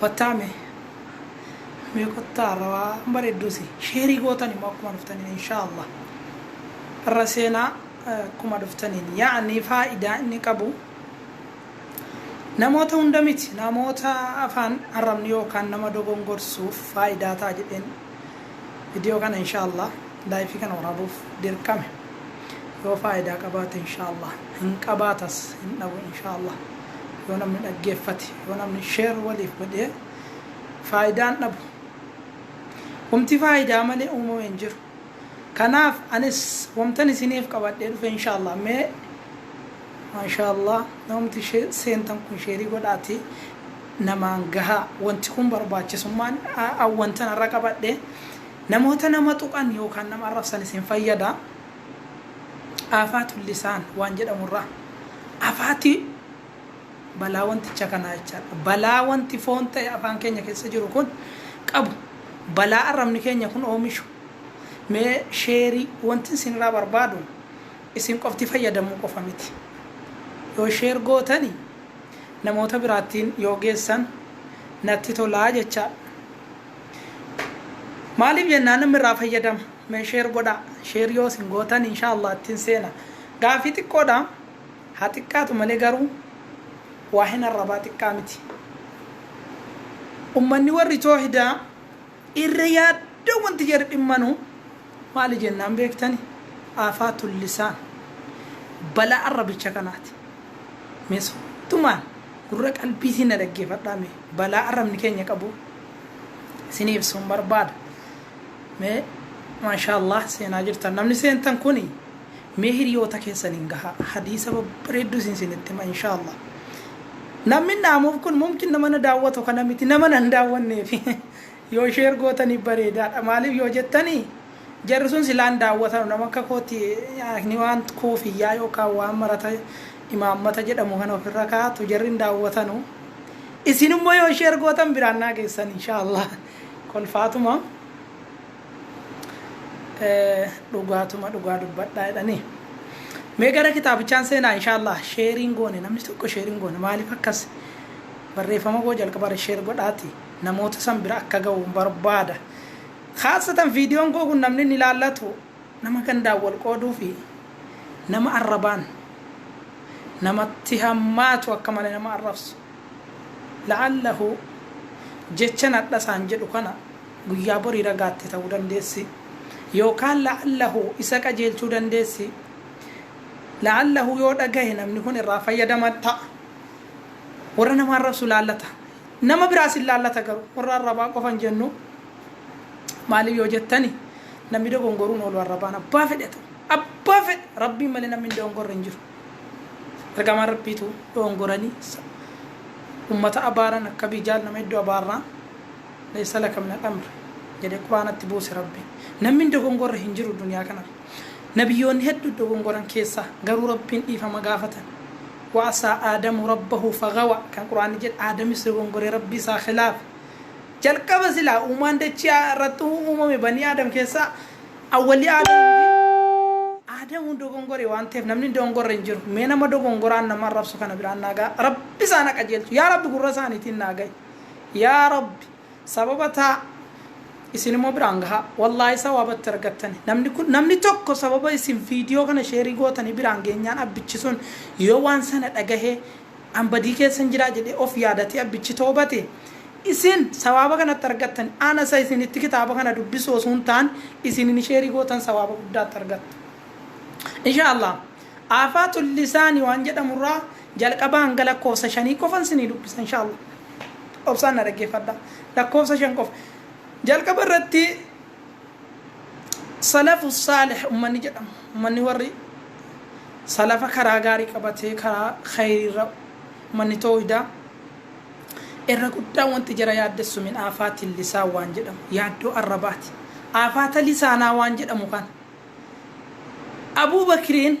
Kottaa mee. Mee kottaa irra waan bareedduu si. Sheerii gootan immoo akkuma dhuftaniin inshaallah. Irra seenaa akkuma dhuftaniin. Yaa'ni faayidaa inni qabu. Namoota hunda miti namoota afaan arrabni yookaan nama dogongorsuuf faayidaa ta'a jedheen viidiyoo kana inshaallah laayifii kana waraabuuf dirqame yoo faayidaa qabaate inshaallah hin qabaatas hin dhabu inshaallah. yoo namni dhaggeeffate yoo namni share waliif godhee faayidaan dhabu humti faayidaa malee uumame hin jiru kanaaf anis wamtan isiniif qabadhee dhufe inshaallah mee maashaallah namti she- seentan kun sheerii godhaati namaan gahaa wanti kun barbaachisummaan a- a- wantan irra qabadhe namoota nama tuqan yookaan nama arrabsan isin fayyada Aafaa Tullisaan waan jedhamu irraa afaati balaa wanticha kanaa jechaadha. Balaa wanti foon ta'e afaan keenya keessa jiru kun qabu balaa arrabni keenya kun oomishu mee sheerii wanti isin irraa barbaadu isin qofti fayyadamuu qofa miti. Yoo sheer gootani namoota biraattiin yoo geessan natti tolaa jechaadha. Maaliif jennaan namni irraa fayyadama. Mee share godhaa. Share yoo isin gootan inshaa Allah ittiin seena. Gaafii xiqqoodha. Haa xiqqaatu malee garuu waa hin arrabaa xiqqaa miti. Ummanni warri toohidaa irra yaadda wanti jedhu dhimmanuu Maali jennaan beektani? Aafaa tullisaan. Bala'an rabicha kanaati. Mee soddumaan gurra qalbiitiin na dhaggeefadhaa mee. Balaa arrabni keenya qabu isinii ibsuun barbaada. Mee maashaallaah seenaa jirtan. Namni seentan kuni mee hiriyoota keessaniin gahaa. Hadiisa babbareedduu isin isinitti hima inshaallaah. Namni naamuuf kun mumkin nama na daawwatu kana miti nama na hin daawwanneefi. Yoo share gootani bareedaadha maaliif yoo jettani jarri sun silaa hin daawwatanu nama akka kooti akni waan koofiyyaa yookaan waan marata imaammata jedhamu kana ofirra kaa'atu jarri hin daawwatanu isin immoo yoo share gootan biraan naa geessan inshallah kolfaatuma dhugaatuma dhugaa dubbadhaa jedhanii mee gara kitaabichaan seenaa inshallah share hin goone namni tokko share hin goone maaliif akkas barreeffama koo jalqabarra share godhaati. namoota san bira akka ga'uun barbaada. Khaasatan viidiyoon koo kun namni inni ilaallatu nama gandaan wal qooduu fi nama arrabaan namatti hammaatu akka malee nama arrabsu. La'allahu jechan hadha isaan jedhu kana guyyaa borii ragaatte ta'uu dandeessi. Yookaan la'allahu isa qajeelchuu dandeessi. La'allahu yoo dhagahe namni kun irraa fayyadama ta'a. Warra nama arrabsu laallata. Nama biraas hin laallata garuu. Warra arrabaa qofa hin jennu. Maaliif yoo jettani namni dogongoruu hin oolu arrabaan abbaa fedhe haa ta'u. Abbaa fedhe Rabbiin malee namni hin dogongorre hin jiru. Ergamaan Rabbiitu dogongoranii ummata abaaran akka Abii Jahl nama hedduu abaarraa laysa laka minal amri jedhee quraanatti buuse Rabbiin. Namni hin dogongorre hin jiru duniyaa kanarra. Nabiyyoonni heddu dogongoran keessa garuu Rabbiin dhiifama gaafatan. Wa asaa Aadamu Rabbahu fagawa kan Qur'aanni jedhe Aadamis dogongore Rabbii isaa khilaafe. Jalqaba silaa uumaan dachii irratti uumame banii Aadam keessaa awwalli Aadamii fi Aadamuun dogongore waan ta'eef namni hin dogongorre hin jiru. Mee nama dogongoraan nama arrabsu kana biraan naa ga'a. Rabbi isaan ha qajeelchu. Yaa Rabbi gurra isaaniitiin naa ga'i. Yaa Rabbi. Sababa ta, isin immoo biraan gahaa. Wallahi sawaaba itti argattani. Namni kun namni tokko sababa isin video kana sheerii gootanii biraan geenyaan abbichi sun yoo waan sana dhagahee an badii keessan jiraa jedhee of yaadatee abbichi toobate isin sawaaba kana itti argattani. Ana isa isinitti kitaaba kana dubbisuu osoo hin taane isinini sheerii gootan sawaaba guddaa itti argattu. Insha Allah. Aafaatu lisaani waan jedhamurraa Jalqabaa hanga lakkoofsa shanii qofan isinii dubbisa inshallah obsaan na dhaggeeffadhaa lakkoofsa shan qofa jalqaba irratti salafu saalih ummanni jedhamu ummanni warri salafa karaa gaarii qabatee karaa khayrii irra ummanni toohidaa irra guddaan wanti jara yaaddessu min aafaatiin lisaan waan jedhamu yaaddoo arrabaati aafaata lisaanaa waan jedhamu kana abuu bakriin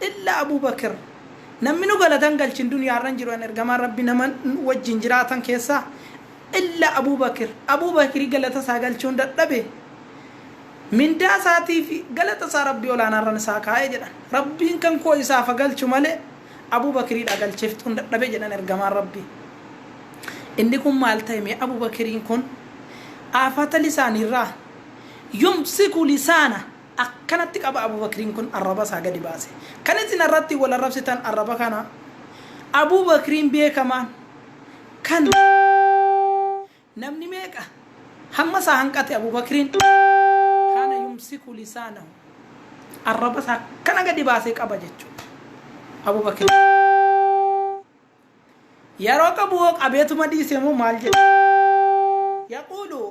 Illa Abubakir. Namminu galata hin galchin duniya irra hin jiru yan ergamaan rabbi nama wajjin jiraatan keessaa illa Abubakir. Abuu Bakiri galata isaa galchuun dadhabe. Mindaa isaatiif galata isaa rabbi olaanaarran isaa kaa'e jedhan. Rabbiin kan koo isaaf ha galchu malee Abuu Bakiriidha galchiftuun dadhabe jedhan ergamaan rabbi. Inni kun maal ta'e mee Abuu Bakiriin kun? Aafata lisaaniirraa yumsiku lisaana Akkanatti qaba Abu Bakriin kun arraba isaa gadi baase. Kan isin irratti wal arrabsitan arraba kana. Abu Bakriin beekamaan kan namni meeqa hamma isaa hanqate Abu Bakriin kana yumsiku lisaanahu arraba isaa akkana gadi baasee qaba jechuudha. Abu Bakriin yeroo qabu hoo qabeetuma dhiise moo maal jedhe? Yaquulu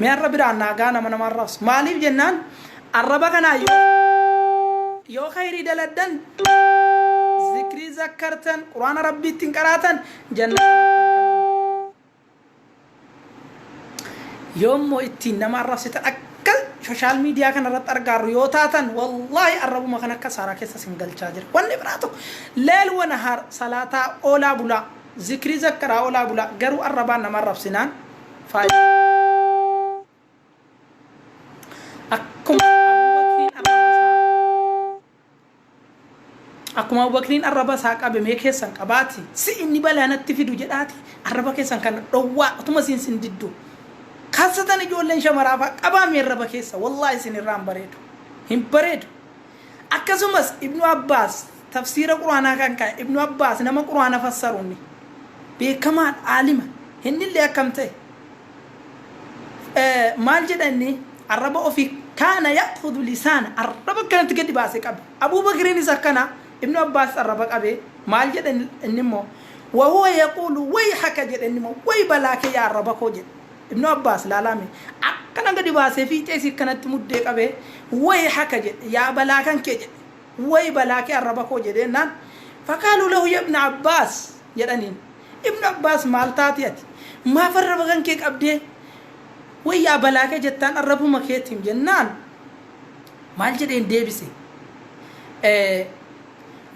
Mee har'a biraan naagaa nama nama arrabsu. Maaliif jennaan arraba kanaa yoo yoo khayrii daladdan zikrii zakkartan quraana rabbii ittiin qaraatan jannata yoo immoo ittiin nama arrabsitan akka sooshaal miidiyaa kana irratti argaarru yoo taatan wallaahi arrabuma kan akka saaraa keessa sin galchaa jira wanni biraa tokko leel wana har salaataa oolaa bulaa zikrii zakkaraa oolaa bulaa garuu arrabaan nama arrabsinaan faayida akkuma abubakriin arraba isaa akkuma abubakriin arraba isaa qabe mee keessan qabaati si inni balaa natti fidu jedhaati arraba keessan kana dhowwaa utuma siin sin diddu kaasatan ijoolleen shamaraafaa qabaamee arraba keessa wallaahi isin irraa hin bareedu hin bareedu Akkasumas Ibnu Abbaas tafsiira Qur'aanaa kan kaa'e Ibnu Abbaas nama Qur'aana fassaruun ni beekamaadha, aalima. Innillee akkam ta'e? Maal jedha inni? Arraba ofii kaana ya'khudhu lisaana, arraba akkanatti gadi baasee qaba. Abuu Bakriinis akkana, Ibnu Abbaas arraba qabee maal jedha innimmoo? Wa huwa yaquulu wayhaka jedha innimmoo, way balaa kee yaa arraba koo jedha. Ibnu Abbaas, laalaa mee, akkana gadi baasee fiixee isii akkanatti muddee qabee, Wayhaka jedhe, yaa balaa kan kee jedhe, way balaa kee arraba koo jedhe jennaan, Faqaaluu lahu ya ibna Abbaas jedhaniin, Ibnu Abbaas maal taate ati? Maaf arraba kan kee qabdee, way yaa balaa kee jettaan arrabuma keetiim jennaan, maal jedheen deebise?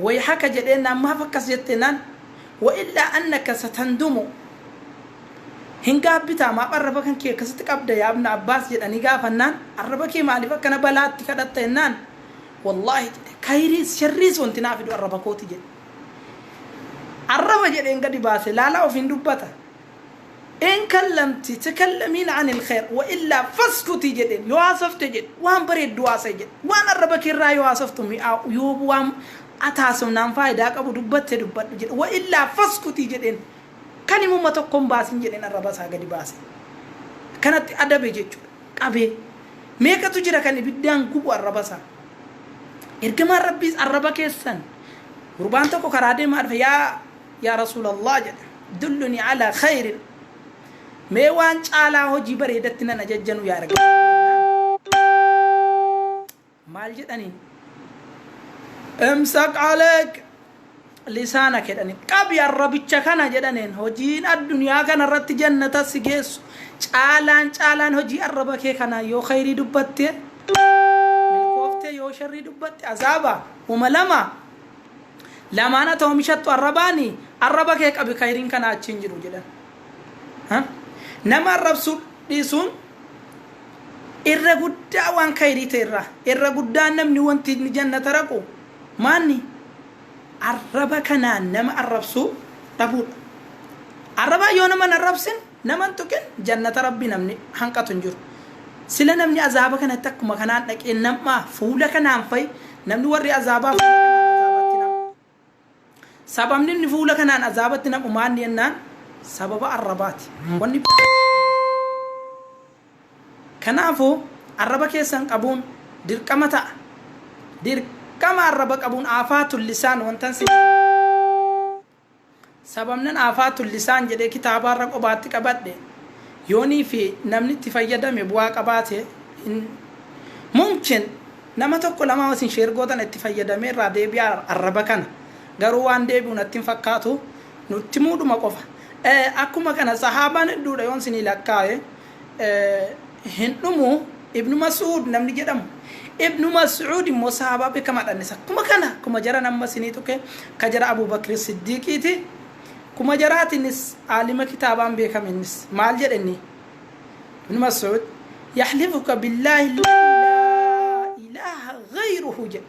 Wayhaka jedhe jennaan, maaf akkas jette jennaan, Wa illaa annaka satandumu. Hin gaabbitaa maaf arraba kan kee akkasitti qabda yaa ibna abbaas jedhanii gaafannaan arraba kee maaliif akkana balaatti kadhatta jennaan wallaahi jedhe kayriis sharriis wanti naa fidu arraba kooti jedhe arraba jedheen gadi baase laalaa ofiin dubbata in kallamti takallamiin anil khayr wa illaa faskuti jedheen yoo haasofte jedhe waan bareeddu haasa'i jedhe waan arraba kee irraa yoo haasoftu mi'aa yoo waan ataasofnaan faayidaa qabu dubbatte dubbadhu jedhe wa illaa faskuti jedheen Kan imuma tokko hin baasin jedheen arraba isaa gadi baase. Akkanatti adabe jechuudha. Qabee. Meeqatu jira kan ibiddaan gubu arraba isaa. Ergamaan Rabbiis arraba keessan gurbaan tokko karaa deemaa dhufe yaa yaa Rasuulallah jedhe. Dulluni ala khayrin. Mee waan caalaa hojii bareedatti nan ajajjanu yaa ergamaa Rabbii jennaan. maal jedhani imsaq aleek lisaana kedhani qabi arrabicha kana jedhaneen hojiin addunyaa kana irratti jannata si geessu caalaan caalaan hojii arraba kee kana yoo khayrii dubbatte milkooftee yoo sharrii dubbatte azaaba huma lama lamaan ati oomishattu arrabaani arraba kee qabi khayriin kana achiin jiru jedhan nama arrabsuu dhiisuun Irra guddaa waan khayrii ta'e irraa, irra guddaan namni wanti inni jannata raqu maanni? Arraba kanaan nama arrabsuu dhabuudha. Arrabaan yoo nama hin arrabsin, nama hin tuqin jannata Rabbii namni hanqatu hin jiru. Sila namni azaaba kanatti akkuma kanaan dhaqee nam'aa fuula kanaan fa'i, namni warri azaabaa fuula kanaan azaabatti nam'u. Sababni inni fuula kanaan azaabatti naqu maanni jennaan sababa arrabaati. Wanni biraa hin danda'u. Kanaafuu arraba keessan qabuun dirqama ta'a. Dirqama arraba qabuun aafaatun lisaan wantan si Sababnan Aafaa Tullisaan jedhee kitaabaa irra qobaatti qabadhe yoonii fi namni itti fayyadame bu'aa qabaate hin Mumkin nama tokko lamaa yoo isin share gootan itti fayyadamee irraa deebi'a arraba kana garuu waan deebi'u natti hin fakkaatu nutti himuudhuma qofa Akkuma kana sahaabaan hedduudha yoon isinii lakkaa'e hin dhumu ibnu mas'uud namni jedhamu ibnu mas'uud immoo sahaabaa beekamaadha innis akkuma kana akkuma jaran amma isinii tuqe ka jara abuu bakri siddiiqiiti kuma jaraati innis aalima kitaabaan beekame innis maal jedhe inni ibnu mas'uud yaxlifuka billaahi alladhi laa ilaaha gayruhu jedhe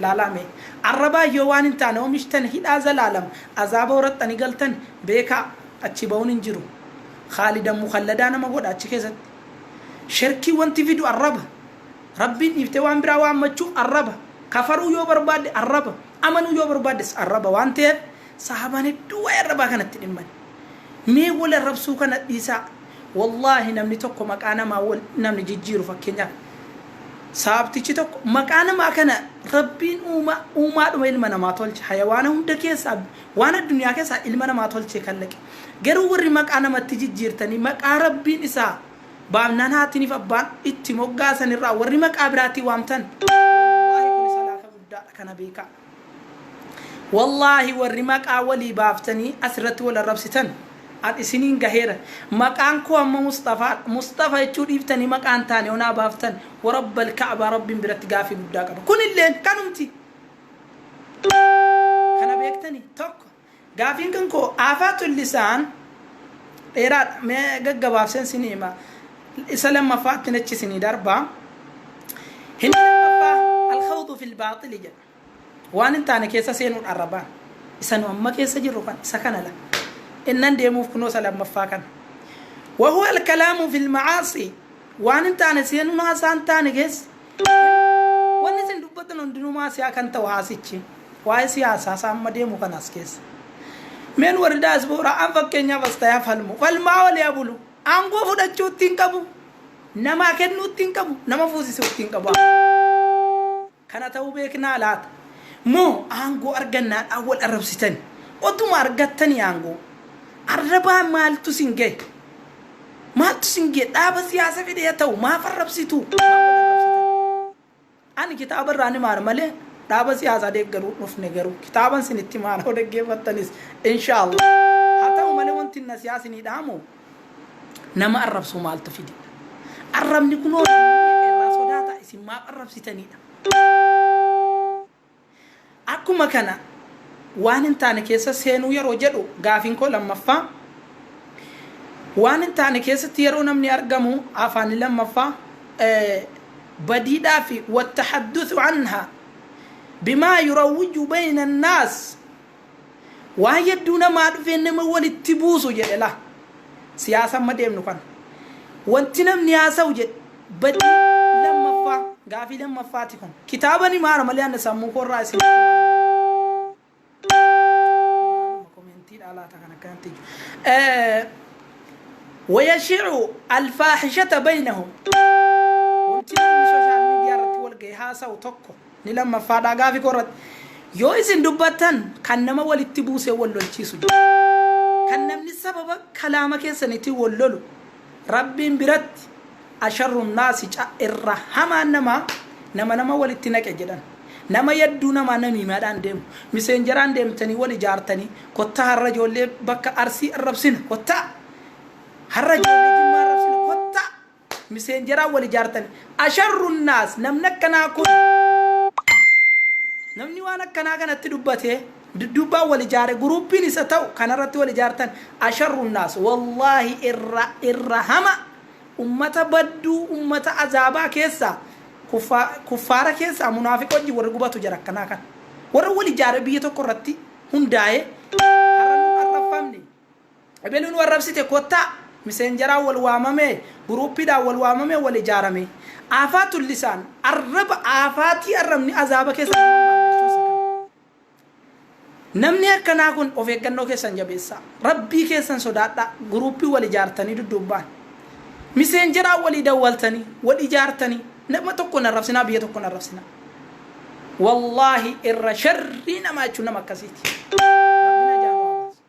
Laalaa mee. Arrabaan yoo waan hin taane omishtan hidhaa zalaalam azaaba horattani galtan beekaa achii bahuun hin jiru. Khaalidan mukhalladaa nama godha achi keessatti. Sherkii wanti fidu arraba. Rabbiin dhiiftee waan biraa waammachuu arraba. Kafaruu yoo barbaadde arraba. Amanuu yoo barbaaddes arraba waan ta'eef sahaabaan hedduu waa'ee arrabaa kanatti dhimman. Mee wal arrabsuu kana dhiisaa. Wallaahi namni tokko maqaa namaa wal namni jijjiiru fakkeenyaaf sahaabtichi tokko maqaa namaa kana rabbiin uumaa uumaadhuma ilma namaa tolche hayawaana hunda keessaa waan addunyaa keessaa ilma namaa tolchee kallaqe garuu warri maqaa namatti jijjiirtanii maqaa rabbiin isaa baafnaan haatiniif abbaan itti moggaasan irraa warri maqaa biraatii waamtan wallaahi kun salaafa guddaadha kana beekaa Wallaahi warri maqaa walii baaftanii asirratti wal arrabsitan an isiniin gaheera maqaan koo amma musxafaadha musxafa jechuu dhiiftanii maqaa hin taane onaa baaftan warabbal ka'abaa rabbiin biratti gaafii guddaa qaba kunilleen kanumti kana beektanii tokko Gaafiin kan koo Aafaatun Lisaan dheeraadha. Mee gaggabaabseen isinii hima. Isa lammaffaattin achi isinii darba. Himni lammaffaa Al-Khawdu fil Baaxili jedha. Waan hin taane keessa seenuudha arrabaan. Isa nu amma keessa jirru kan isa kana la. Innan deemuuf kunoo isa lammaffaa kana. Wahuwa al-kalaamu fil macaasi. Waan hin taane seenuun haasaa hin taane keessa. Wanni isin dubbattan hundinuu maa siyaa kan ta'u haasichi. Waa'ee siyaasaa isaa amma deemu kana as keessa. Mee nu warri daaspooraa an fakkeenyaaf as ta'ee falmu. Falmaa olee haa bulu. Aangoo fudhachuu ittiin qabu. Namaa kennuu ittiin qabu. Nama fuusisuu ittiin qabu. Kana ta'uu beeknaa laata? Moo aangoo argannaadhaan wal arrabsitani? Otuma argattanii aangoo arrabaa maaltu isin gahe? Maaltu sin gee dhaaba siyaasa fedhee haa ta'u maaf arrabsituu maaf wal arrabsitan ani kitaaba irraa ni maara malee dhaaba siyaasaa deeggaruu dhufne garuu kitaaban sin itti maara yoo dhaggeeffattanis inshaallah haa ta'u malee wanti na siyaa sinii dhaamu nama arrabsuu maaltu fide arrabni kunoo irraa sodaata isin maaf arrabsitaniidha Akkuma kana waan hin taane keessa seenuu yeroo jedhu gaafiin koo lammaffaa waan hin taane keessatti yeroo namni argamu afaanni lammaffaa badiidhaa fi wattahadduthu anha bimaa yurawwiju bayna annaas Waan yadduu namaa dhufee nama walitti buusu jedhe laa. Siyaasa amma deemnu kana. Wanti namni haasa'u jedhe badii lammaffaa gaafii lammaffaati kun. Kitaaba ni maara malee anna sammuu koorraa isin maaluma komeentiidhaa laata kan akkanatti iju. Wayashicu alfaahishata baynahum. Wanti namni sooshaal miidiyaa irratti wal ga'e haasa'u tokko. Inni lammaffaa dha gaafi koo irratti. Yoo isin dubbattan kan nama walitti buusee wal lolchiisu jira. Kan namni sababa kalaama keessanitiin wal lolu Rabbiin biratti asharrun naasi ca irra hamaan namaa nama nama walitti naqe jedhan. Nama yadduu namaa namiimaadhaan deemu. Miseenjaraan deemtanii wal ijaartanii kottaa har'a ijoollee bakka Arsii arrabsina kottaa har'a ijoollee Jimmaa arrabsina kottaa miseenjaraan wal ijaartani asharrun naas namni akkanaa kun namni waan akkanaa kanatti dubbate dudduubbaan wal ijaare guruuppiin isa ta'u kanarratti wal ijaartan asharrun naas wallaahi irra irra hama ummata badduu ummata azaabaa keessaa kuffaa kuffaara keessaa munaafiqa wajjin warri gubatu jara akkanaa kana warra wal ijaare biyya tokko irratti hundaa'e har'a nu arrabfamne Ebelu nu arrabsite kotta misenjaraa wal waamamee guruupiidhaan wal waamamee wal ijaarame aafaatu lisaan arraba aafaatii arrabni azaaba keessa nama baasa jechuun isa kana. Namni akkanaa kun of eeggannoo keessan jabeessaa rabbii keessan sodaadhaa guruupii wal ijaartanii dudduubbaan misenjaraa walii dawwaltanii wal ijaartanii nama tokko hin arrabsinaa biyya tokko hin arrabsinaa. Wallaahi irra sharrii namaa jechuun nama akkasiiti. Rabbiin ajaa nu haa baasu.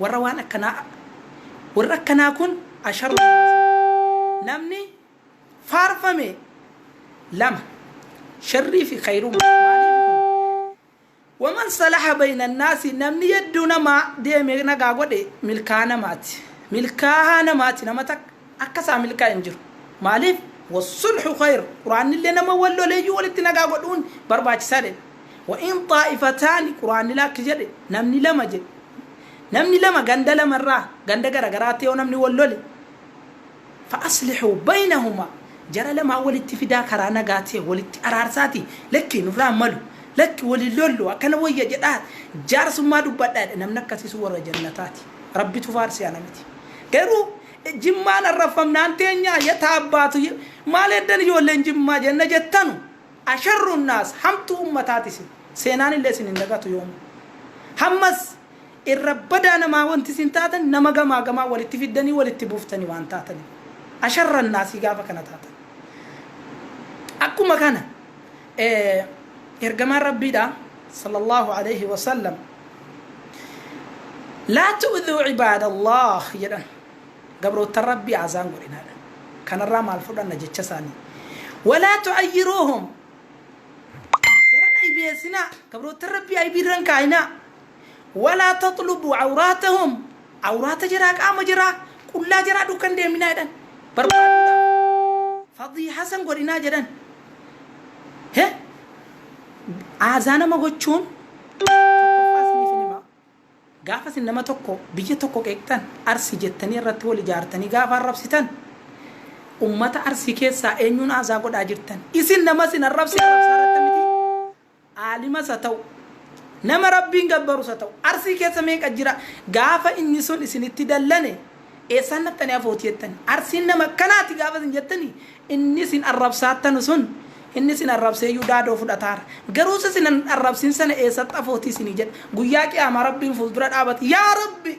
Warra waan akkanaa Warri akkanaa kun asharoo hin baasin. Namni faarfame lama. Sharrii fi khayruma. Maaliif kun? Waman salaha bayna annaasi namni yedduu namaa deeme nagaa godhe milkaa namaati. Milkaahaa namaati nama takka. akka isaa milkaa'e hin jiru. Maaliif? Wassulhu khayr, Qur'aannillee nama wal loleeyyuu walitti nagaa godhuun barbaachisaa jedhe. Wa in xaa'ifataani, Qur'aannillee akki jedhe, namni lama jedhe. Namni lama ganda lama irraa, ganda gara garaatti yoo namni wal lole, fa aslihuu baynahumaa, jara lamaan walitti fidaa karaa nagaa ta'e walitti araarsaati, lakki nurraa hin malu, lakki wal hin lollu, akkana wayya jedhaa jaarsummaa dubbadhaa jedhe. Namni akkasii sun warra jannataati. Rabbitu faarse ana miti. Garuu Jimmaan arrabfamnaan teenyaa ye taabbaatu ye maal heddan ijoolleen jimmaa jenna jettanu asharruun naas hamtuu ummataati isin seenaan illee isin hin dagatu yoomuu hammas irra badaa namaa wanti isin taatan nama gamaa gamaa walitti fiddanii walitti buuftani waan taataniif asharran naasii gaafa kana taatan akkuma kana Ergamaan Rabbiidha sallallahu alayhi wa sallam laa tu'dhuu cibaadallah jedhan gabroottan Rabbii azaan godhinaadha kanarraa maal fudhanna jecha isaanii walaa tu'ayyiruuhum jaran aybeessinaa gabroottan Rabbii aybiirran kaayinaa walaa taxlubuu cawraatahum cawraata jaraa qaama jaraa qullaa jaraa dukkan deeminaa jedhan barbaaduudha fadii hasan godhinaa jedhan He? Aazaa nama gochuun tokkoffaa isiniif hin hima. Gaafa isin nama tokko biyya tokko qeeqxan Arsi jettanii irratti wal ijaartanii gaafa arrabsitan ummata Arsii keessaa eenyuun aazaa godhaa jirtan? Isin nama isin arrabse arrabsaa jirtan mitii? aalimas ha ta'u, nama Rabbiin gabbarus ha ta'u, Arsii keessa meeqa jira? Gaafa inni sun isinitti dallane, eessaan dhaqxanii hafooti jettan? Arsiin nama akkanaati gaafa isin jettani, inni isin arrabsaattanu sun, inni isin arrabseeyyuu daadoo fudhataara. Garuu isa isin hin arrabsin sana eessatti hafooti isinii jedha. Guyyaa Qiyaamaa Rabbiin fuuldura dhaabati, Yaa Rabbi!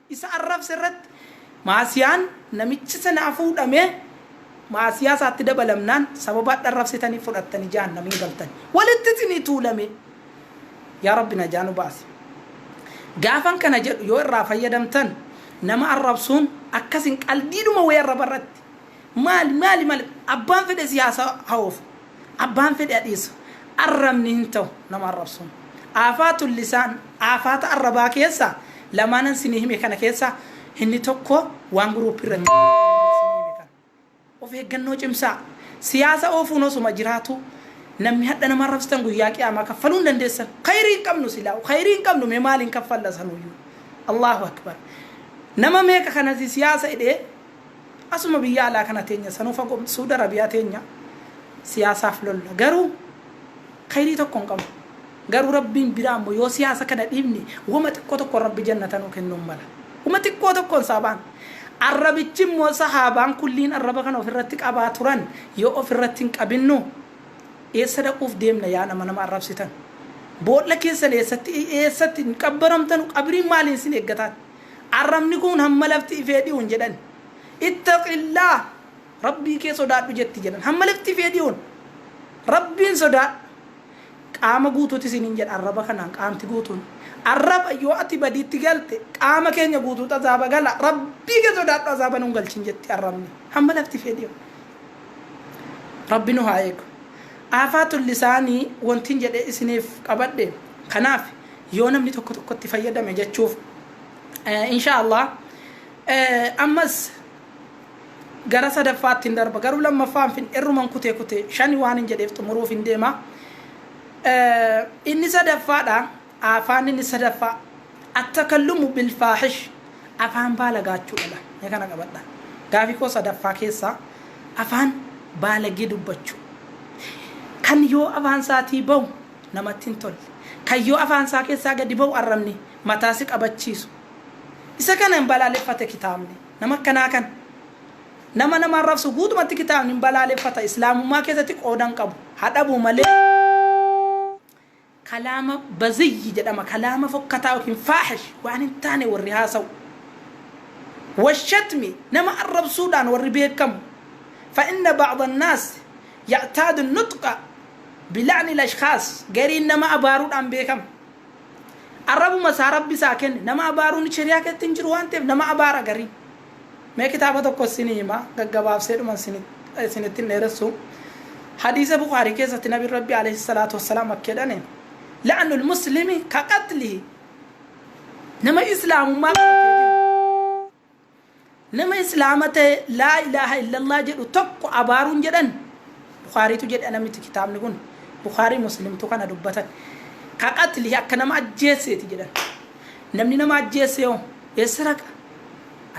isa arrabse irratti, Maasiyaan namichi sana afuudhamee maasiyaa isaatti dabalamnaan sababa hadha arrabsitaniif fudhattanii jahannam hin galtan. Walitti isinii tuulamee. Yaa Rabbi najaa nu baasi. Gaafan kana jedhu yoo irraa fayyadamtan nama arrabsuun akka isin qaldiidhuma wayii arraba irratti Maali maali maali abbaan fedhe siyaasa haoofu abbaan fedhe adhiisu arrabni hin tahu nama arrabsuun aafaatun lisaan aafaata arrabaa keessa lamaanan sinii hime kana keessa inni tokko waan group irratti sinii hime kana of eeggannoo cimsaa siyaasa oofuun osuma jiraatuu namni hadha nama arrabsitan guyyaa qiyaamaa kaffaluu hin dandeessan khayrii hin qabnu silaa khayrii hin qabnu mee maaliin kaffalla sanuyyuu Allahu akbar nama meeqa kanasi siyaasa hidhee Asuma biyya alaa kana teenya sanuu fagoo miti suud arabiyaa teenya siyaasaaf lolla garuu kayrii tokko hin qabnu garuu rabbiin biraa immoo yoo siyaasa kana dhiifne wama xiqqoo tokkoon rabbi jannata nuu kennuu hin mala wama xiqqoo tokkoon saabaan arrabichi immoo sahaabaan kulliin arraba kana of irratti qabaa turan yoo of irratti hin qabinnu eessa dhaquuf deemna yaa nama nama arrabsitan boolla keessan eessatti eessatti hin qabbaramtanu qabriin maaliin sin eeggataan Arrabni kun hamma lafti ifee dhiyuun jedhan. Ittaqillaah, Rabbii kee sodaadhu jetti jedhan. Hamma lafti ifee dhiyuun Rabbiin sodaadhu. Qaama guutuuti isiniin jedha arraba kanaan qaamti guutuun. Arraba yoo ati badiitti galte qaama keenya guutuutu azaaba gala. Rabbii kee sodaadhu azaaba nun galchin jetti arrabni. Hamma lafti ifee dhiyuun. Rabbi nu haa eegu. Aafaatul lisaanii wantin jedhee isiniif qabadhe kanaaf yoo namni tokko tokkotti fayyadame jechuuf insha allah ammas gara sadaffaatti hin darba garuu lammaffaan fin irruman kutee kutee shani waan hin jedheef xumuruuf hin deema inni sadaffaadha afaan inni sadaffaa attakallumu bilfaahish afaan baalagaachuu dhala mee kana qabadha gaafii koo sadaffaa keessaa afaan baalagee dubbachuu kan yoo afaan isaatii bahu namatti hin tolle. Kan yoo afaan isaa keessaa gadi ba'u arrabni mataa si qabachiisu. Isa kana hin balaaleffate kitaabni. Nama akkanaa kana. Nama nama arrabsu guutumatti kitaabni hin balaaleffata. Islaamummaa keessatti qooda hin qabu. Haa dhabu malee kalaama baziyyi jedhama. Kalaama fokkataa yookiin faahish waan hin taane warri haasa'u. Washatmi nama arrabsuudhaan warri beekamu. Fa'inna ba'da naas ya'taadu nutqa Bila'nil ashkhaas, gariin nama abaaruudhaan beekama. Arrabuma isaa Rabbi isaa kenne. Nama abaaruun shari'aa keessatti hin jiru waan ta'eef nama abaara gariin. Mee kitaaba tokko isinii hima, gaggabaabseedhuma isinitti hin dheeressu. Hadiisa Bukhaarii keessatti Nabiin Rabbi alayhi salaatu wassalaam akka jedhani, La'nul muslimi ka qatlihi. Nama islaamummaa qabatee jiru. Nama Islaama ta'e Laa ilaaha illallah jedhu tokko abaaruun jedhan Bukhaariitu jedhe ana miti kitaabni kun Bukhaarii Muslimtu kana dubbatan Ka qatli akka nama ajjeesseeti jedhan Namni nama ajjeesse hoo eessa dhaqa?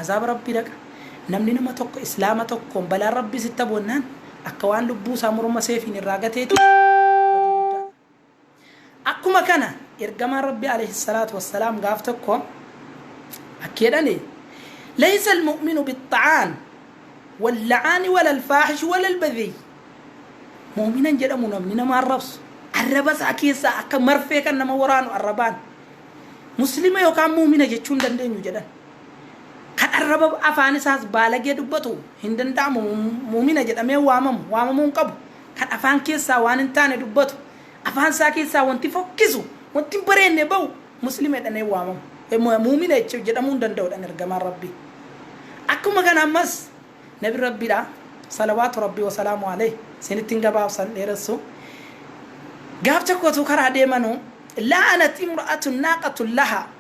Azaaba Rabbii dhaqa Namni nama tokko Islaama tokkoon balaan Rabbiis itti abu'annaan akka waan lubbuu isaa morma seefiin irraa gateeti badii guddaadha. Akkuma kana Ergamaan Rabbii aleyhi salaatu wassalaam gaaf tokko akki jedhani Laysa al-mu'minu bit-ta'aan wal-la'aani wala-al-faahishu wala-al-badhiyyi Mu'minan jedhamu namni nama arrabsu, arraba isaa keessaa akka marfee kan nama waraanu arrabaan Muslima yookaan mu'mina jechuu hin dandeenyu jedhan. Kan arraba afaan isaas baalagee dubbatu hin danda'amu mu'mina jedhamee waamamu, waamamuu hin qabu. kan afaan keessaa waan hin taane dubbatu, afaan isaa keessaa wanti fokkisu, wanti hin bareenne ba'u Muslima jedhamee waamamu, mu'mina jecha jedhamuu hin danda'u jedhan ergamaan Rabbii. Akkuma kana ammas Nabiin Rabbiidha, salawaatu Rabbii wa salaamu alayhi, isinittin gabaabsa hin dheeressu, gaaf tokko utuu karaa deemanuu, la'anat imra'atun naaqatun lahaa,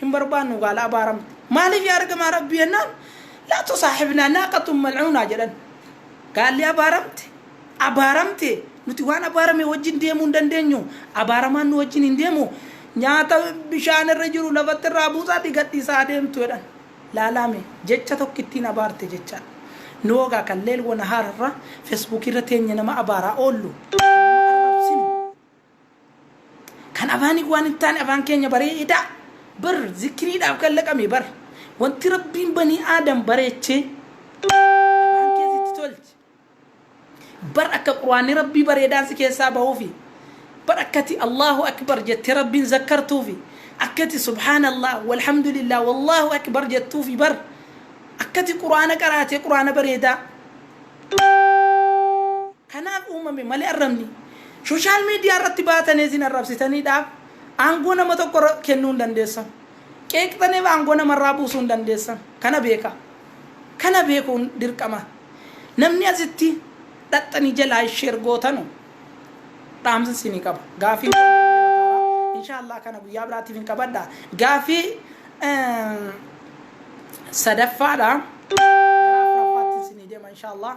hin barbaannu gaala abaaramte maaliif yaa ergamaa rabbii jennaan laa tusaaxibnaa naaqatun malcuunaa jedhan gaalli abaaramte abaaramte nuti waan abaarame wajjin deemuu hin dandeenyu abaaramaan nu wajjin hin deemu nyaata bishaan irra jiru lafatti irraa buusaati gadhiisaa deemtu jedhan laalaame jecha tokko ittiin abaarte jechaa nu hogaa kan leel wanahaar irra fesbuukii irra teenye nama abaaraa oollu nama arrabsinu Kan afaanii waan hin taane afaan keenya bareedaa bar zikiriidhaaf kan laqame bar wanti rabbiin banii aadam bareechee afaan keessa itti tolche bar akka quraanni rabbii bareedaan si keessaa bahuufi bar akkati allahu akbar jettee rabbiin zakkartuufi akkati subhaanallah walhamdulillah wallahu akbar jettuufi bar akkati quraana qaraatee quraana bareedaa kanaan uumame malee arrabni social media irratti baatanee isin arrabsitaniidhaaf aangoo nama tokko irra kennuu hin dandeessan. Qeeqxaneef aangoo nama irraa buusuu hin dandeessan. Kana beekaa. Kana beekuun dirqama. Namni asitti dhaqxanii jalaa share gootanu dhaamsa isinii qaba. Gaafiin koo baay'ee dheerateera. Inshaallah kana guyyaa biraatiif hin qabadha. Gaafii eh, sadaffaadha. Gara afuraffaatti isinii deema inshaallah.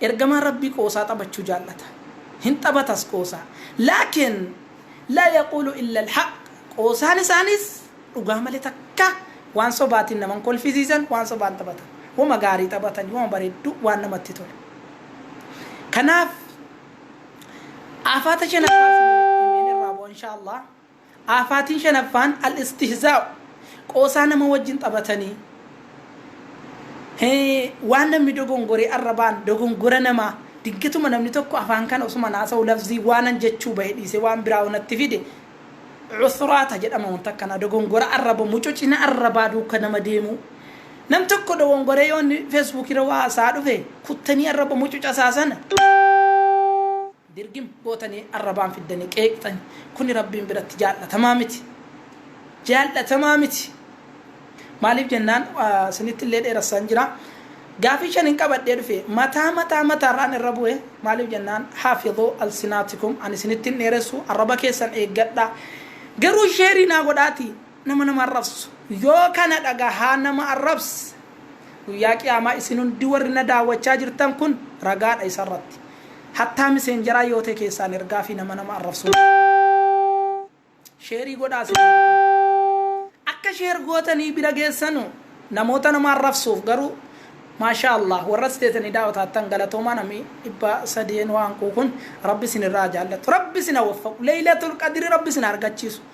Ergamaan Rabbii qoosaa taphachuu jaallata. Hin taphatas qoosaa. Laakin laa yaquulu illa al-haqq. Qoosaan isaaniis dhugaa malee takka waan sobaatiin nama hin kolfisiisan, waan sobaan taphatan. Wama gaarii taphatanii, wama bareedduu, waan namatti tolu. Kanaaf aafaata shanaffaa isinii himeen irraa bu'a inshaa Allaah. Aafaatiin shanaffaan al-istihzaa'u, qoosaa nama wajjin taphatanii, waan namni dogongore arrabaan dogongora namaa, dinqituma namni tokko afaan kana osuman haasa'u lafzii waanan jechuu bahe dhiisee waan biraa yoo natti fide, usraata jedhama wanta akkanaa, dogongora arraba, mucucina arrabaa duuka nama deemuu. Nam tokko dogongoree yoo inni facebook irra waa haasa'aa dhufe, kuttanii arraba mucuca isaa sana, Dirgim gootanii arrabaan fiddanii qeeqxani. Kuni Rabbiin biratti jaallatamaa miti. Jaallatamaa miti. Maaliif jennaan isinitti illee dheerassaan jira. Gaafii shanin qabadhee dhufe. Mataa mataa mataarraan irra bu'e. Maaliif jennaan haafidhuu alsinaatikum ani isinittin dheeressu arraba keessan eeggadhaa. Garuu sheerii naa godhaatii. nama nama arrabsu yoo kana dhagahaa nama arrabs guyyaa qiyaamaa isin hundi warri na daawwachaa jirtan kun ragaadha isa irratti hattaa miseenjaraa yoo ta'e keessaan ergaa fi nama nama arrabsu sheerii godhaa isin akka sheer gootanii bira geessanu namoota nama arrabsuuf garuu maashaa allah warra isteetanii daawwataattan galatoomaa namni dhibba sadeen waan quukun rabbi isin irraa jaallatu rabbi isin hawwaffaqu leeylatul qadiri rabbi isin argachiisu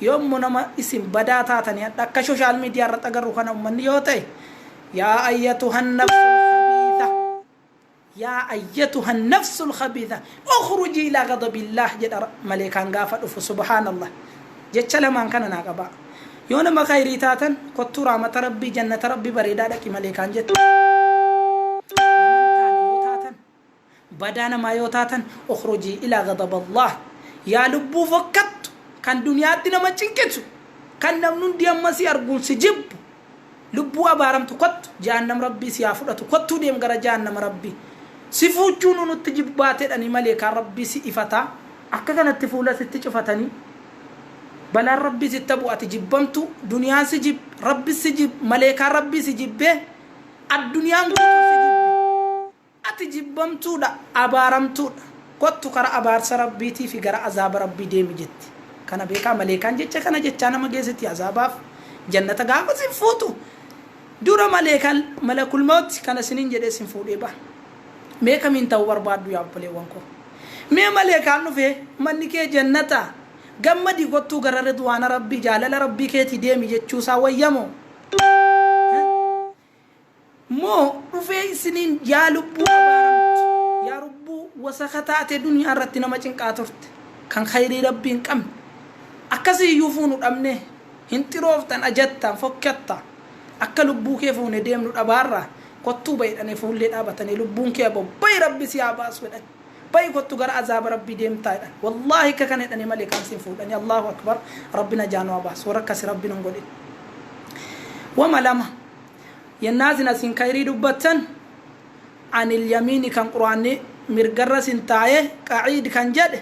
Yoommu nama isin badaa taatani hadha akka shoshaal midiyaa irratt agarru kana ummanni yoo ta'e yaa ayyatuhan nafsul khabiitha yaa ayyatuhan nafsul khabiitha ukhrujii ilaa ghadabillaah jedha maleekaan gaafa dhufu subhaanallah jecha lamaan kana naa qabaa yoo nama khayrii taatan kottuu raamata rabbii jannata rabbii bareedaa dhaqi maleekaan jetti Badaa namaa yoo taatan ukhrujii ilaa ghadaballaah Yaa lubbuu fokkattu kan duniyaatti nama cinqisu kan namni hundi amma si arguun si jibbu lubbuu abaaramtu kottu jahannam rabbii si haa fudhatu kottuu deem gara jahannama rabbii si fuuchuunuu nutti jibbaatedhanii maleekaan rabbii si ifataa akka kanatti fuula sitti cufatanii balaan rabbii sitta bu'a ati jibbamtuu duniyaan si jib rabbis si jib maleekaan rabbii si jibbee adduniyaan guutuun si jibbi Ati jibbamtuudha, abaaramtuudha. Kottu kara abaarsa Rabbiitii fi gara azaaba Rabbii deemi jetti. Kana beekaa maleekaan jecha kana jechaa nama geessiti azaabaaf jannata gaafa sin fuutu dura maleekaan malakul mawti kana sinin jedhee sin fuudhee baha. Mee kamiin ta'uu barbaaddu yaa obboleewwan koo? Mee maleekaan dhufee manni kee jannata gammadi kottuu gara ridwaana Rabbii jaalala Rabbii keetii deemi jechuusaa wayyamoo? moo dhufee isiniin yaa lubbuu abaaramtu yaa rubbuu wasaka taate duniyaa irratti nama cinqaa turte kan kayrii rabbii hin qabne akkasi iyyuu fuunu dhabnee hin xirooftan ajattaan fokkatta akka lubbuu kee fuune deemnu dhabaarraa kottuu bayi dhane fuullee dhaabatane lubbuun kee abo bayi rabbi si haa baasu jedhan bahi kottu gara azaaba rabbii deemtaa jedhan wallahi akka kana jedhani male kaan sin fuudhani allahu akbar rabbi najaa nu abaasu warra akkasi rabbi nun godhin wama lama yennaa sin asin kayrii dubbattan anil yamiini kan quraanni mirgarra sin taaye qaciid kan jedhe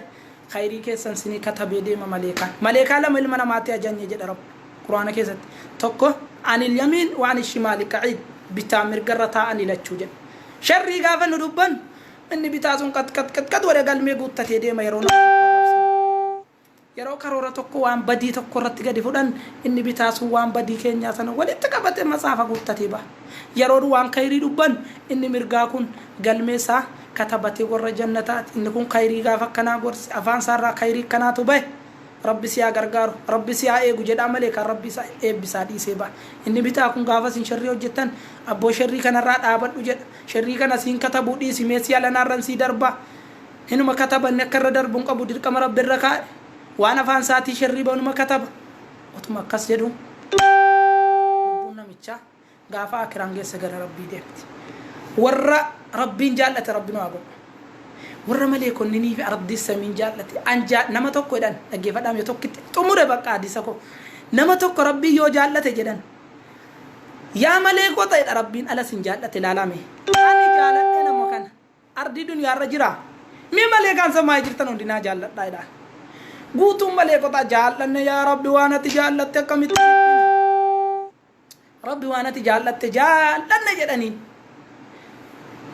kayrii keessan sinii katabee deema maleekaan maleekaa lama ilma namaatti ajanye jedha rabbi quraana keessatti tokko anil yamiin waan shimaali qaciid bitaa mirgarra taa'anii lachuu jedhe sharrii gaafa nu dubbannu Inni bitaa sun qat qat qat qat godhee galmee guuttatee deema yeroo nama tokko arrabsan. Yeroo karoora tokko waan badii tokko irratti gadi fudhan inni bitaa sun waan badii keenyaa sana walitti qabatee matsaafa guuttatee baha. Yeroon waan kayrii dubbannu inni mirgaa kun galmee isaa katabatee warra jannataati. Inni kun kayrii gaafa akkanaa gorse afaan isaa irraa kayrii akkanaatu bahe. Rabbi si haa gargaaru, Rabbi si haa eegu jedhaa malee kan Rabbi isa eebbisaa dhiisee baha. Inni bitaa kun gaafa isin sherrii hojjettan abboo sherrii kanarraa dhaabadhu jedha. Sherrii kana siin katabuu dhiisi mee si alanaa irran sii darba hinuma kataba inni akka irra darbu hin qabu dirqama rabbi irra kaa'e waan afaan isaatii sherrii bahu numa kataba otuma akkas jedhu lubbuun namichaa gaafa akiraan geesse gara rabbii deemti warra rabbiin jaallate rabbi nu haa godhu warra maleekonninii fi ardii samiin jaallate anjaa nama tokko jedhan dhaggeeffadhaam yoo tokkitti xumure bakka hadiisa koo nama tokko rabbii yoo jaallate jedhan Yaa malee koo ta'edha rabbiin ala sin jaallate laalaa mee ani jaaladhe nama kana ardii duniyaa irra jira mee malee kaan samaa'ee jirtan hundi naa jaalladhaa jedhaan guutuun malee kotaa jaallanne yaa rabbi waan ati jaallatte akkamitti dhiphina rabbi waan ati jaallatte jaallanne jedhaniin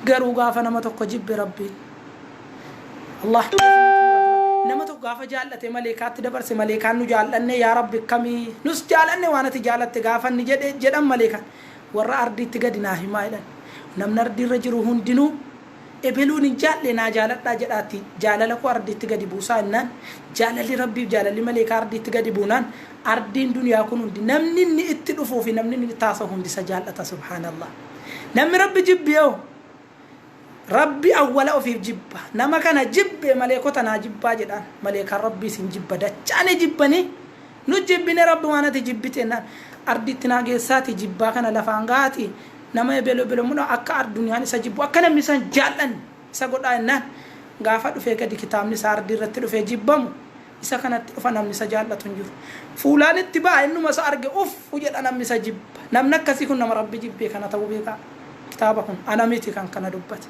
Garuu gaafa nama tokko jibbe Rabbiin. Allah nama tokko gaafa jaallate maleekaatti dabarse maleekaan nu jaallanne yaa Rabbi akkamii nus jaalanne waan ati jaalatte gaafa inni jedhe jedhan maleekaan warra ardiitti gadi naa himaa jedhan namni ardiirra jiru hundinuu ebeluun hin jaalle naa jaaladhaa jedhaatti jaalala koo ardiitti gadi buusaa innaan jaalalli Rabbiif jaalalli maleekaa ardiitti gadi buunaan ardiin duniyaa kun hundi namni inni itti dhufuu fi namni inni itti haasa'u hundi isa jaallata subhaanallah. Namni Rabbi jibbeeho? Rabbi awwala ofiif jibba. Nama kana jibbe maleekota naa jibbaa jedhaan. Maleekaan Rabbiis hin jibba dachaa ni jibbanii. Nu jibbine Rabbumaan ati jibbite jennaan. Ardiitti naa geessaatii jibbaa kana lafaan gahaatii nama ebelo ebelo mudhaa akka arduniyaan isa jibbu akka namni isa hin jaallanne isa godhaa jennaan. Gaafa dhufee gadi kitaabni isaa ardii irratti dhufee jibbamu Isa kanatti dhufa namni isa jaallatu hin jiru. Fuulaan itti ba'a innuma isa arge uffu jedha namni isa jibba. Namni akkasii kun nama Rabbi jibbee kana ta'uu beekaa. Kitaaba kun ana miti kan kana dubbate.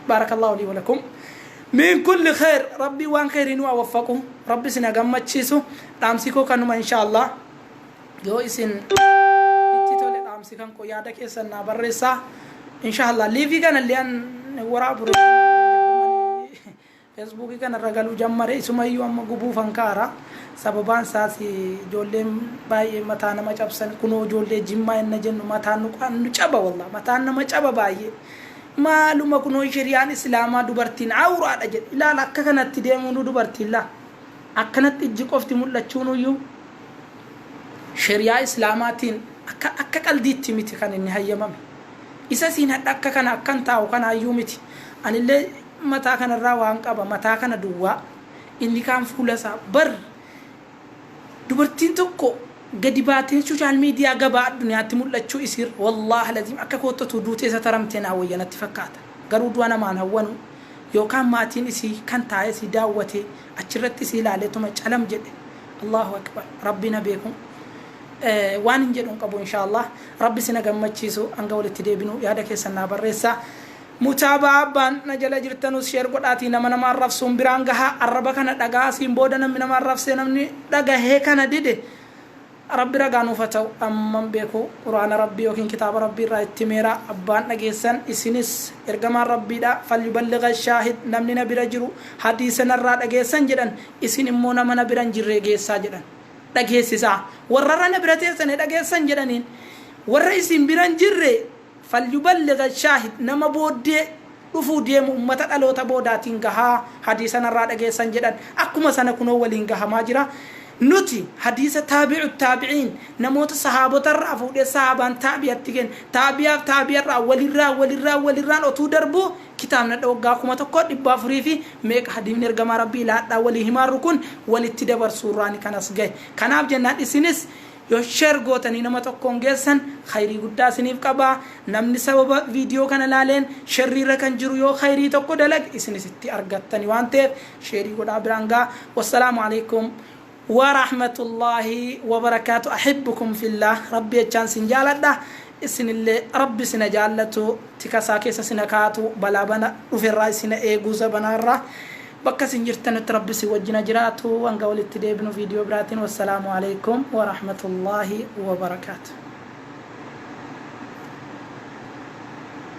Baarakallaahu lii walakum. Min kulli kheer Rabbiin waan kheerii nu haa waffaqu. Rabbi isin haa gammachiisu. Dhaamsi koo kanuma inshaallah. Yoo isin itti tole dhaamsi kan koo yaada keessan naa barreessaa. Inshaallah liivii kana illee an waraabu Feesbuukii kana irra galuu jammare isumayyuu amma gubuufan ka'ara sababaan isaas ijoolleen baay'ee mataa nama cabsan kunoo ijoollee jimmaa inna jennu mataan nu qaan nu caba wallah mataan nama caba baay'ee maaluma kunoo sheriyaan islaamaa dubartiin awuraadha jedhe ilaala akka kanatti deemuunuu dubartiin laa akkanatti ijji qofti mul'achuunuyyuu sheriyaa islaamaatiin akka akka qaldiitti miti kan inni hayyamame isa siin hadha akka kana akkan taa'u kanaayyuu miti anillee mataa kana irraa waan qaba mataa kana duwwaa inni kaan fuula isaa bar dubartiin tokko gadi baatee social media gabaa addunyaatti mul'achuu isiirra wallaah laziim akka kootti otuu duutee sataramtee naa wayya natti fakkaata garuu du'a namaan hawwanu yookaan maatiin isii kan taa'ee isii daawwatee achirratti isii ilaalee tuma calam jedhe Allahu akbar rabbi na beeku waan hin jedhu hin qabu inshaa Allah rabbi sina gammachiisu hanga walitti deebinu yaada keessan naa barreessaa Mutaaba'aa Abbaan na jala jirtanus share godhaatii nama nama arrabsuun biraan gahaa arraba kana dhagahaa asiin booda namni nama arrabsee namni dhagahee kana dide Rabbi ragaa nuuf haa ta'u amman beeku qur'aana Rabbii yookiin kitaaba Rabbii irraa itti himeera abbaan dhageessan isinis ergamaan Rabbiidha falyuballigha shaahid namni na bira jiru hadiisa narraa dhageessan jedhan isin immoo nama na bira hin jirree geessaa jedhan dhageessisaa warra irra na bira teessane dhageessan jedhaniin warra isin bira hin jirre Falyuballigh shaahid Nama booddee dhufuu deemu ummata dhaloota boodaatiin gahaa hadiisa narraa dhageessan jedhan akkuma sana kunoo waliin gahamaa jira Nuti hadiisa taabi'u taabi'iin namoota sahaabotarraa fuudhee sahaabaan taabi'atti kenne taabi'aaf taabi'arraa walirraa walirraa walirraan otuu darbuu kitaabnadha waggaa 1400 fi meeqa hadiifni ergamaa rabbii laadhaa walii himaarru kun walitti dabarsuurraani kan as gahe kanaaf jennaan isinis Yoo share gootanii nama tokkoon geessan khayrii guddaa isiniif qaba. Namni sababa video kana laaleen sherrii irra kan jiru yoo khayrii tokko dalage isinis itti argattani waan ta'eef share godhaa biraan gahaa. Wassalaamu aleykum Warahmatullahi Wabarakaatu Ahibbukum fillah Rabbi jechaan isin jaaladha. isinille rabbi sina jaallatu tika isaa keessa sina kaatu balaa bana dhufe irraa isina eegu zabanaa irraa bakka isin jirtanutti rabbi isin wajjina jiraatu hanga walitti deebinu viidiyoo biraatiin wassalaamu alaikum warahmatullaahi wabarakaatu